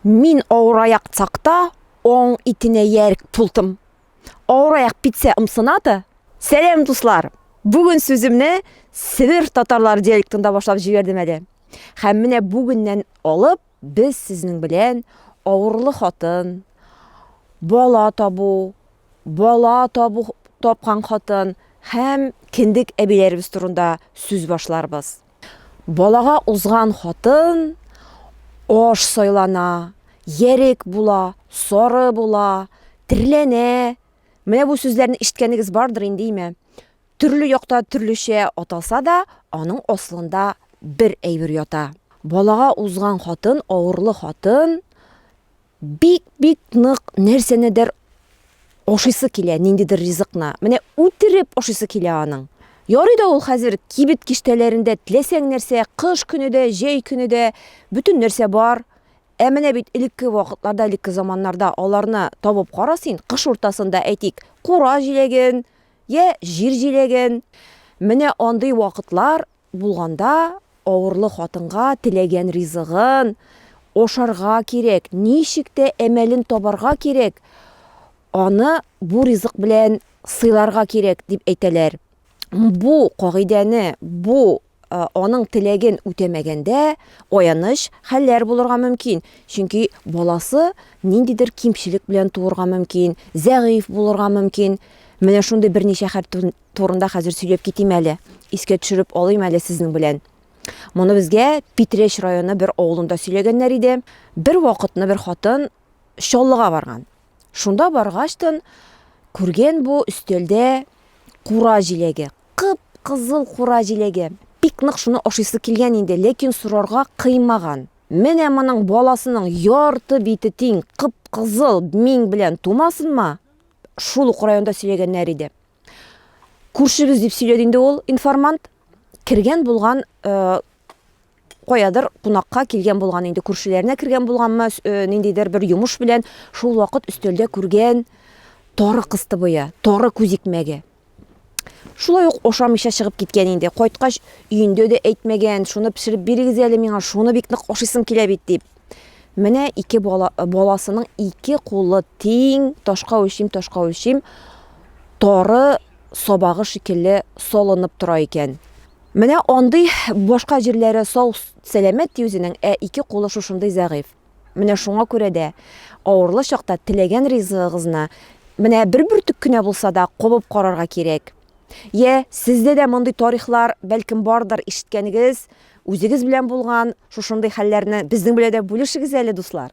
Мин аураяк цакта оң итенә ярк пултым. Аураяк питсә ымсынаты? Сәләм, дуслар! Бүген сүземне Себер татарлары диалектында башлап җибәрдем әле. Хәм менә бүгеннән алып без сезнең белән авырлы хатын, бала табу, бала табу тапкан хатын хәм кендек әбиләребез турында сүз башларбыз. Балага узган хатын аш сайлана, ярек була, сары була, терләнә. Менә бу сүзләрне ишеткәнегез бардыр инде, име? Төрле якта төрлечә аталса да, аның асылында бер әйбер ята. Балага узган хатын, авырлы хатын, бик-бик нык нәрсәнедер ашыйсы килә, ниндидер ризыкны. Менә үтереп ашыйсы килә аның. Ярый да ул хәзер кибет киштәләрендә теләсәң нәрсә, кыш көне дә, җәй көне дә бөтен нәрсә бар. Ә менә бит элекке вакытларда, элекке заманнарда аларны табып кара син, кыш уртасында әйтик, кура җиләген, я җир җиләген. Менә андый вакытлар Булганда, авырлы хатынга теләгән ризыгын ашарга кирәк, ничек тә әмәлен табарга кирәк, аны бу ризык белән сыйларга кирәк, дип әйтәләр. Бу кагыйдәне, бу аның теләген үтәмәгәндә, аяныч хәлләр булырга мөмкин, чөнки баласы ниндидер кимчелек белән туырга мөмкин, зәгыйфь булырга мөмкин. Менә шундый берничә хәл Турында хәзер сөйләп китим әле. Искә төшереп алыйм әле сезнең белән. Моны безгә Питрәч районы бер авылында сөйләгәннәр иде. Бер вакытны бер хатын Чаллыга барган. Шунда баргачтын күргән бу өстәлдә кура җиләге, кып-кызыл кура җиләге. Бик нык шуны ашыйсы килгән инде, ләкин сорарга кыймаган. Менә моның баласының ярты бите тиң кып-кызыл миң белән тумасынма, шул ук районда сөйләгәннәр иде. Күршебез дип сөйләде инде ул информант. Кергән булган э, каядыр кунакка килгән булган инде күршеләренә кергән булганмы э, ниндидер бер йомыш белән шул вакыт өстәлдә күргән тары кыстыбые, тары күзикмәге. Шулай ук ашамыйча чыгып киткән инде. Кайткач өендә дә әйтмәгән, шуны пешереп бирегез әле миңа, шуны бик нык ашыйсым килә бит дип. Менә ике бала, баласының ике кулы тиң, ташка үлчим, ташка үлчим, тары сабагы шикелле солынып тора икән. Менә андый башка җирләре сау, сәламәт ди үзенең, ә ике кулы шушындый зәгыйфь. Менә шуңа күрә дә авырлы чакта теләгән ризыгыгызны менә бер бөртек кенә булса да кабып карарга кирәк. Йә, сездә дә мондый тарихлар бәлкем бардыр, ишеткәнегез, Үзегез белән булган шушындый хәлләрне безнең белән дә бүлешегез әле, дуслар!